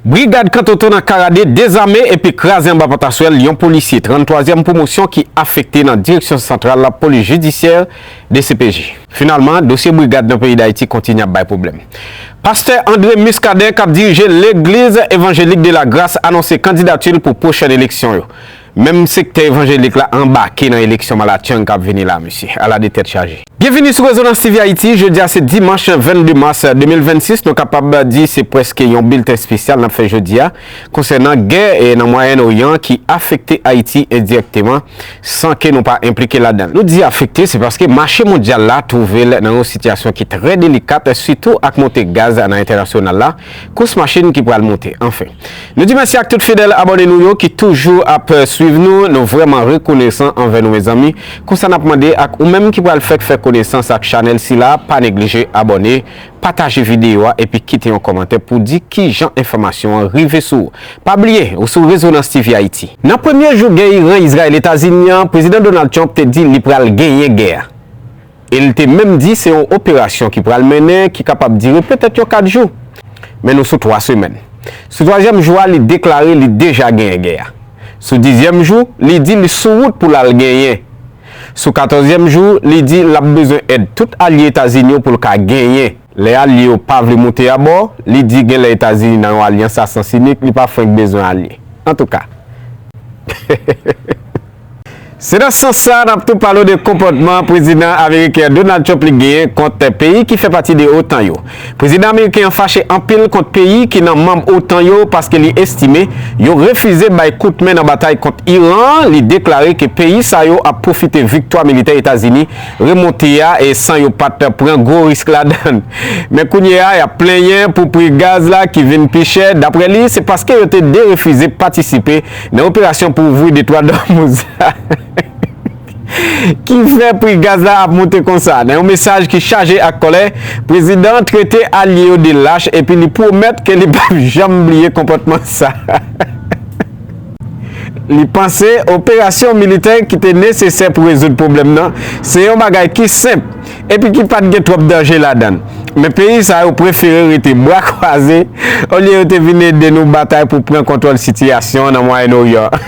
Brigad Kantoto nan Karade dezame epi kraze anba pataswèl yon polisye 33 zièm pwomosyon ki afekte nan Direksyon Santral Lapolis Jidisyè, dcpj. Finalman, dosye brigad nan peyi Dayiti kontinye ap bay pwoblèm. Pastè André Muscadin kap dirije Legliz Evanjelik de la Gras anonse kandidati l pou pwochèn eleksyon yo. Menm sektè evanjelik la anbake nan eleksyon malatchang kap vini la mesye. Ala de tèt chaje. Byenvini sou Rezonans TV Ayiti, jodi a se dimanch 22 mas 2026, nou kapab di se prèske yon bilten spesyal nap fè jodi a konsènan gè nan Mwayèn Oryan ki afekte Ayiti endirèkteman san ke nou pa enplike ladan l. Nou di afekte se paske mache mondyal la twouve l nan yon sitiyasyon ki trè delikat sitou ak monte gaz nan entènasyonal la, kous machin ki pral monte, anfen. Nou di mèsi ak tout fidèl abòne nou yo ki toujou ap swiv nou, nou vrèman rekonesan anvè nou mezanmi, konsa nap mande ak ou menm ki pral fèk fè konesans ak chanèl sila pa neglije abòne, pataje videyo a epi kite yon kòmantè pou di kijan enfòmasyon an rive sou ou. Pa bliye ou sou Rezonans TV Haïti. Nan premye jou gè Iran-Izrayèl-Etazini an, Prezidan Donald Trump te di li pral genyen gè a. e l te menm di se yon operasyon ki pral mennen ki kapab dire petèt yon 4 jou. Men nou sou 3 semèn. Sou twazyèm jou a li deklare li deja genyen gè a. Sou dizyèm jou li di li sou wout pou l al genyen. Sou katòzyèm jou li di l ap bezwen èd tout alye Etazini yo pou l ka genyen. Lè alye yo pa vle moute abò, li di genlè Etazini nan yon alyans a sans inik li pa frenk bezwen alye. Antouka. Se nan sans sa a n ap tou pale w de konpòtman Prezidan ameriken Donald Trump li genyen kont peyi ki fè pati de otan yo. Prezidan ameriken an fache anpil kont peyi ki nan manm otan yo paske li estime yo refize bay kout men nan batay kont Iran an, li deklare ke peyi sa yo ap pwofite viktwa militè Etazini remonte a e san yo pa t pran gwo risk ladann. Men kounye a y ap plenyen pou pri gaz la ki vin pi chè. Daprè li, se paske yo te derefize patisipe Nan operasyon pou ouvri detwa Dòmouz la, ki fè pri gaz la ap moute konsa? Nan yon mesaj ki chaje ak kòlè, prezidan an trete alye yo de lach epi li pwomèt ke li pap janm bliye konpòtman sa li panse operasyon militè ki te nesesè pou rezoud pwoblèm nan se yon bagay ki senp. epi ki pa t gen twòp danje ladan l, men peyi sa yo prefere rete bra kwaze olye yo te vin ede nou batay pou pran kontwòl sitiyasyon an nan Mwayen Oryan an.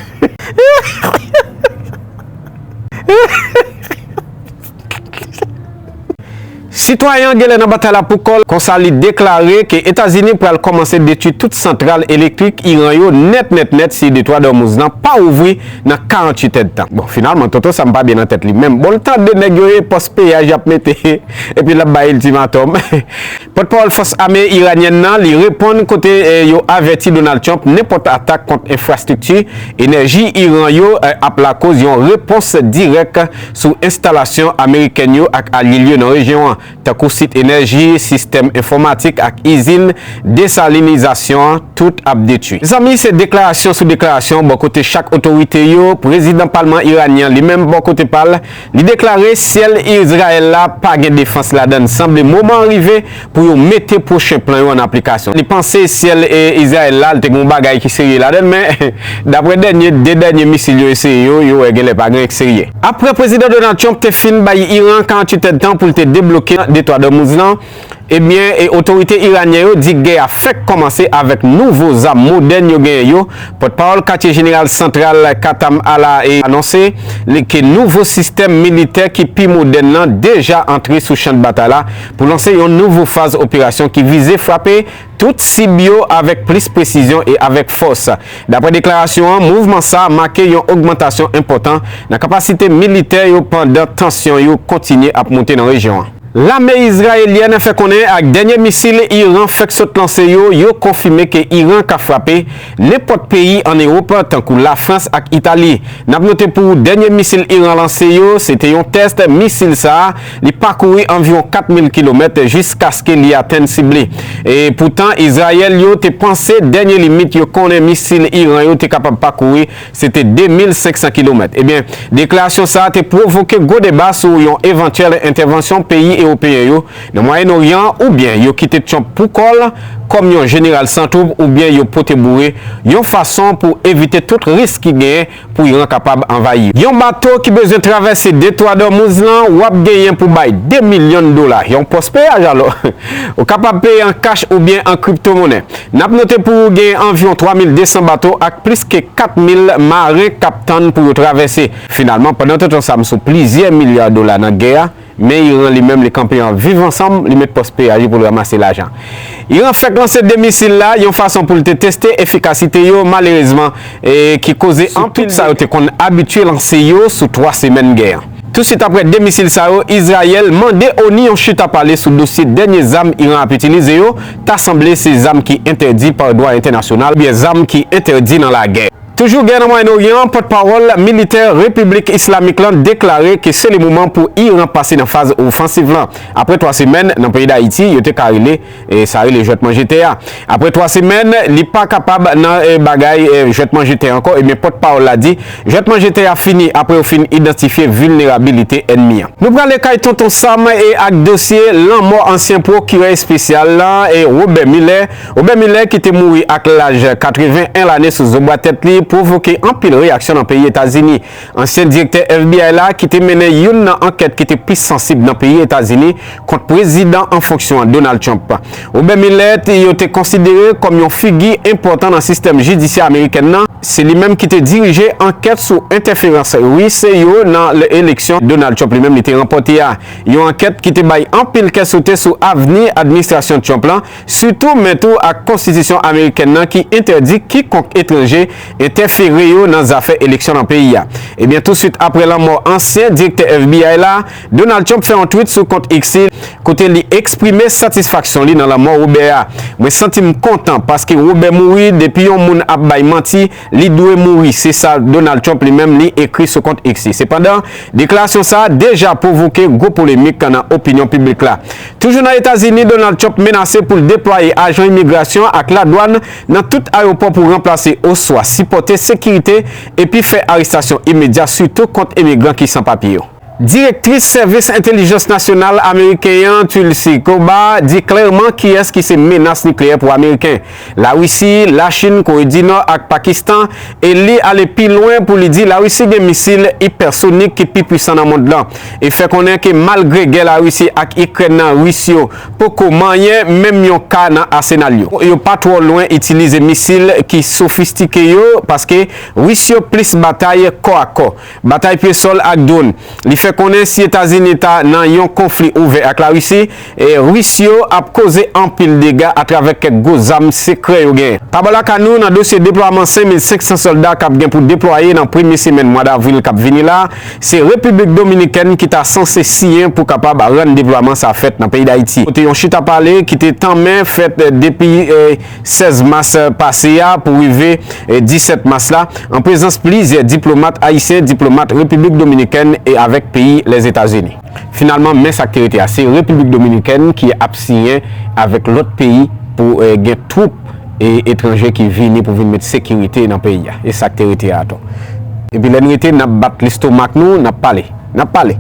Sitwayen an genlè nan batay la pou kò l, konsa li deklare ke Etazini pral kòmanse detwi tout santral elektrik Iran yo nèt nèt nèt si Detwa d'Ormuz lan pa ouvri nan 48 èdtan. Bon finalman Toto Sam pa byen nan tèt li menm. Bon l tande nèg yo e pòs peyaj y ap mete epi l ap bay iltimatòm. Pòtpawòl fòs ame iranyèn nan li reponn kote yo avèti Donald Trump nenpòt atak kont enfrastrikti enèji Iran yo ap lakoz yon repons dirèk sou enstalasyon amerikèn yo ak alye l yo nan rejyon an. tankou sit enèji, sistèm enfòmatik ak izin desalinizasyon an, tout ap detui. Mezanmi, se deklarasyon sou deklarasyon bò kote chak otorite yo, prezidan palman iranyen an li menm bò kote pa l, li deklare syèl Izrayèl la pa gen defans ladan l, sanble moman an rive pou yo mete pwochen plan yo an aplikasyon. Li panse syèl Izrayèl la, li te gen yon bagay ki serye ladan l, men daprè dènye, 2 dènye misil yo eseye yo, yo wè genlè pa gen anyen ki serye. Apre Prezidan Donald Trump te fin bay Iran 48 èdtan pou l te debloke Detwa d'Ormuz lan, ebyen e otorite iranyen yo di gè a fèk kòmanse avèk nouvo zam modèn yo genyen yo, pòtpawòl katye jeneral santral Qatam Ala e anonse li ke nouvo sistèm militè ki pi modèn lan deja antre sou chandbatay la pou lanse yon nouvo faz operasyon ki vize frape tout sib yo avèk plis presizyon e avèk fòs. Daprè deklarasyon an, mouvman sa make yon ogmantasyon enpòtan nan kapasite militè yo pandan tansyon yo kontinye ap moute nan rejyon an. Lame izrayelyèn fè konnen ak dènye misil Iran fèk sot lanse yo, yo konfime ke Iran ka frape nenpòt peyi an Ewop tankou Lafrans ak Itali. Nap note pou ou dènye misil Iran lanse yo se te yon tès misil sa Li pakouri anviwon 4,000 kilomèt jiskaske li atenn sib li. E poutan, Izrayèl yo te panse dènye limit yo konnen misil Iran yo te kapab pakouri se te 2,500 kilomèt. Ebyen, deklarasyon sa a te pwovoke gwo deba sou yon evantyèl entèvansyon peyi ewopeyen yo nan Mwayen Oryan an, oubyen yo kite Trump pou kò l kòm yon jeneral san twoub oubyen yo pote boure yon fason pou evite tout risk ki genyen Pou Iran kapab anvayi yon bato ki bezwen travèse Detwa Dòmouz lan, w ap genyen pou bay 2 milyon dola, yon pòs peyaj alò. Ou kapab peye an kach oubyen an kriptomonnen. N ap note pou ou gen anviwon 3,200 bato ak plis ke 4,000 maren k ap tann pou yo travèse. Finalman, pandan tout ansanm sou plizyè milya dola nan gè a, Men Iran li menm li kanpe an viv ansanm, li met pòs PAJ pou l ramase lajan. Iran fèk lanse 2 misil la yon fason pou l te teste efikasite yo malerezman e ki koze anpil dega. Sou tout sa yo te konn abitye lanse yo sou 3 semèn gè an. Tousuit aprè 2 misil sa yo, Izrayèl mande ONI yon chita pale sou dosye dènye zam Iran ap itilize yo, ta sanble se zam ki entèdi pa dwa entènasyonal oubyen zam ki entèdi nan lagè. Toujou gè nan Mwayen Oryan, pòtpawòl militè Repiblik Islamik lan deklare ke se le moman pou Iran pase nan faz ofansiv lan. Apre 3 semèn nan peyi Dayiti, yo te ka rele sa rele jwèt manje tè a. Apre 3 semèn, li pa kapab nan bagay jwèt manje tè ankò, ebyen pòtpawòl la di, jwèt manje tè a fini apre yo fin idantifye vilnerabilite ènmi an. Nou prale kay Tonton Sam e ak dosye lanmò ansyen pwokirè espesyal lan, Robert Mueller. Robert Mueller ki te mouri ak laj 81 lane sou zobwa tèt li pwovoke anpil reyaksyon nan peyi Etazini. Ansyen direktè FBI la ki te mennen youn nan ankèt ki te pi sansib nan peyi Etazini kont prezidan an fonksyon an Donald Trump. Robert Mueller te yo te konsidere kòm yon figi enpòtan nan sistèm jidisyè amerikèn nan, se li menm ki te dirije ankèt sou entèferans Ris yo nan eleksyon Donald Trump li menm li te ranpòte a, yon ankèt ki te bay anpil kè sote sou avni administrasyon Trump lan. sitou men tou ak konstitisyon amerikèn nan ki entèdi kikonk etranje entèfere yo nan zafè eleksyon nan peyi a. Ebyen touswit aprè lanmò ansyen direktè FBI la, Donald Trump fè yon twit sou kont X li, kote li eksprime satisfaksyon li nan lanmò Robert a, Mwen santi m kontan paske Robert mouri depi yon moun ap bay manti, Li dwe mouri, se sa Donald Trump li menm li ekri sou kont X li. Sepandan, deklarasyon sa a deja pwovoke gwo polemik nan opinyon piblik la. Toujou nan Etazini, Donald Trump menase pou l deplwaye ajan imigrasyon ak ladwàn nan tout ayewopò pou ranplase oswa sipòte sekirite epi fè arestasyon imedya sitou kont imigran ki san papye yo. Direktris Sèvis Entelijans Nasyonal Ameriken an, Tulsi Gabbard, di klèman kiyès ki se menas nikleyè pou Ameriken, Larisi, Lachin, Kore di Nò ak Pakistan, e li ale pi lwen pou li di Larisi gen misil ipèsonik ki pi pwisan nan mond lan, e fè konnen ke malgre gè Larisi ak Ikrèn nan, Ris yo poko manyen menm yon ka nan asenal yo. Yo pa twò lwen itilize misil ki sofistike yo, paske Ris yo plis batay kò a kò. Batay pye sòl ak dwonn. Li fè konnen si Etazini ta nan yon konfli ouvè ak Larisi, Ris yo ap koze anpil dega atravè kèk gwo zam sekrè yo gen. Pa bò lakay nou, nan dosye deplwaman 5,500 sòlda k ap gen pou deplwaye nan premye semèn mwa davril k ap vini la, se Repiblik Dominikèn ki ta sanse siyen pou kapab rann deplwaman sa fèt nan peyi Dayiti. Kote yon chita pale ki te tanmen fèt depi. 16 mas pase a pou rive 17 mas la, an prezans plizyè diplomat ayisyen, diplomat Repiblik Dominikèn e avèk peyi Lèzetazini. Finalman, men sa k te rete a, se Repiblik Dominikèn ki ap siyen avèk lòt peyi pou gen twoup etranje ki vini pou vin met sekirite nan peyi a. E sa k te rete a atò. Epi lè n rete, n ap bat lestomak nou, n ap pale. N ap pale.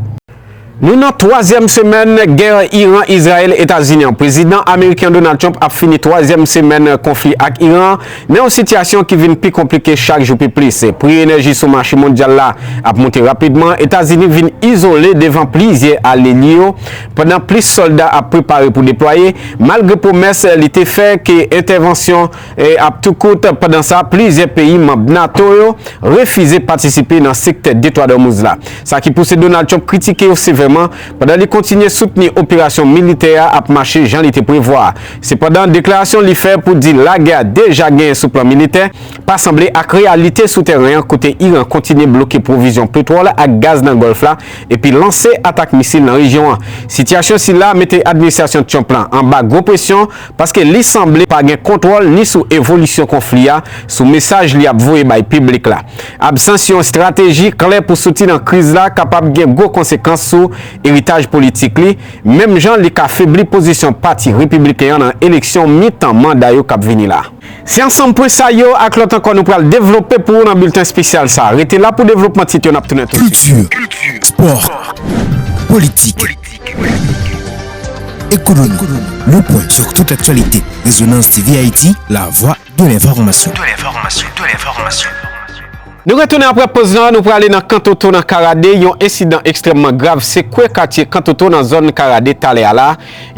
Nou nan twazyèm semèn gè Iran, Izrayèl, Etazini an. Prezidan ameriken an Donald Trump ap fini twazyèm semèn konfli ak Iran an nan yon sitiyasyon ki vin pi konplike chak jou pi plis. Pri enèji sou mache mondyal la ap monte rapidman, Etazini vin izole devan plizyè alye li yo, pandan plis sòlda ap prepare pou deplwaye, malgre pwomès li te fè ke entèvansyon. Ap tou kout, pandan sa, plizyè peyi manb nato yo refize patisipe nan sektè Detwa Dòmouz la. Sa ki pouse Donald Trump kritike yo sevèman, pandan li kontinye soutni operasyon militè a ap mache jan li te prevwa a. Sepandan, deklarasyon li fè pou di lagè a deja genyen sou plan militè, pa sanble ak reyalite sou tèren an kote Iran kontinye bloke pwovizyon petwòl ak gaz nan Gòlf la epi lanse atak misil nan rejyon an. Sitiyasyon sila mete administrasyon Trump la anba gwo presyon, paske li sanble pa gen kontwòl ni sou evolisyon konfli a, sou mesaj li ap voye bay piblik la. Absans yon estrateji klè pou soti nan kriz la kapab gen gwo konsekans sou eritaj politik li, menm jan li ka febli pozisyon Pati Repibliken an nan eleksyon mitan manda yo k ap vini la. Se ansanm pwen sa yo ak lòt ankò nou pral devlope pou ou nan bilten espesyal sa a. Rete la pou devlopman tit yo, n ap tounen tousuit. Kilti, spò, politik. Ekonomi, Le Point sur toute l'actualité, Resonance TV Haïti, la voix de l'information. Nou retounen aprè poz lan, nou prale nan Kantoto nan Karade, yon ensidan ekstrèmman grav sekwe katye Kantoto nan zòn Karade talè a la,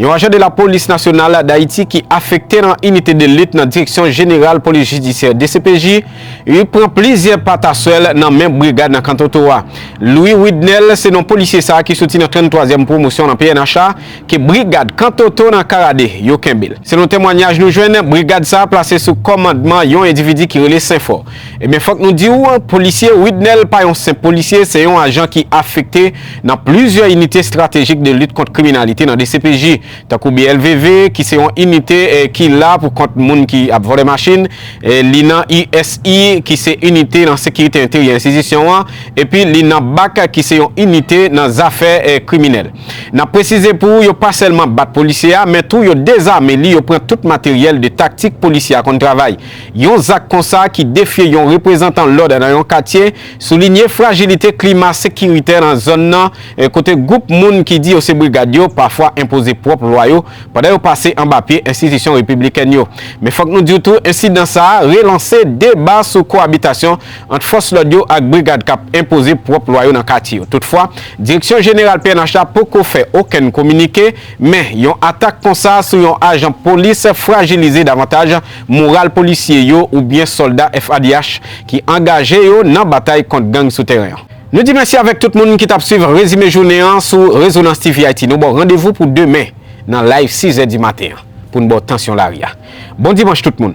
yon ajan de lapolis nasyonal Dayiti ki afekte nan inite de lit nan direksyon jeneral polis jidisyè, dcpj, Li pran plizyè pataswèl nan men brigad nan Kantoto a. Louis Widnel se non polisye sa ki soti nan 33 zièm pwomosyon nan pnh la ke brigad Kantoto nan Karade yo kenbe l. Selon temwanyaj nou jwenn, brigad sa plase sou kòmandman yon endividi ki rele Senfò. Ebyen fòk nou di w, polisye Widnel pa yon senp polisye, se yon ajan ki afekte nan plizyè inite estratejik de lit kont kriminalite nan dcpj. Tankou BLVV, ki se yon inite ki la pou kont moun ki ap vòlè machin, li nan USI, ki se inite nan sekirite enteryè enstitisyon an, epi li nan bak, ki se yon inite nan zafè kriminèl. N ap presize pou ou, yo pa sèlman bat polisye a, men tou yo dezame li, yo pran tout materyèl de taktik polisye a konn travay. Yon zak konsa ki defye yon reprezantan lòd nan yon katye, Soulinye frajilite klima sekiritè nan zòn nan, kote gwoup moun ki di yo se brigad yo pafwa enpoze pwòp lwa yo pandan yo pase anba pye enstitisyon repiblikèn yo. Men fòk nou di w tou ensidan sa a relanse deba sou koabitasyon ant fòs lòd yo ak brigad k ap enpoze pwòp lwa yo nan katye yo. Toutfwa, direksyon jeneral pnh la poko fè okenn kominike, men yon atak konsa sou yon ajan polis frajilize davantaj moral polisye yo oubyen sòlda FAd'H ki angaje yo nan batay kont gang sou tèren an. Nou di mèsi avèk tout moun ki t ap swiv rezime jounen an sou Rezonans TV Ayiti. Nou ba w randevou pou demen nan Live 6 zè di maten an pou n ba w tansyon lari a. Bon Dimanch tout moun!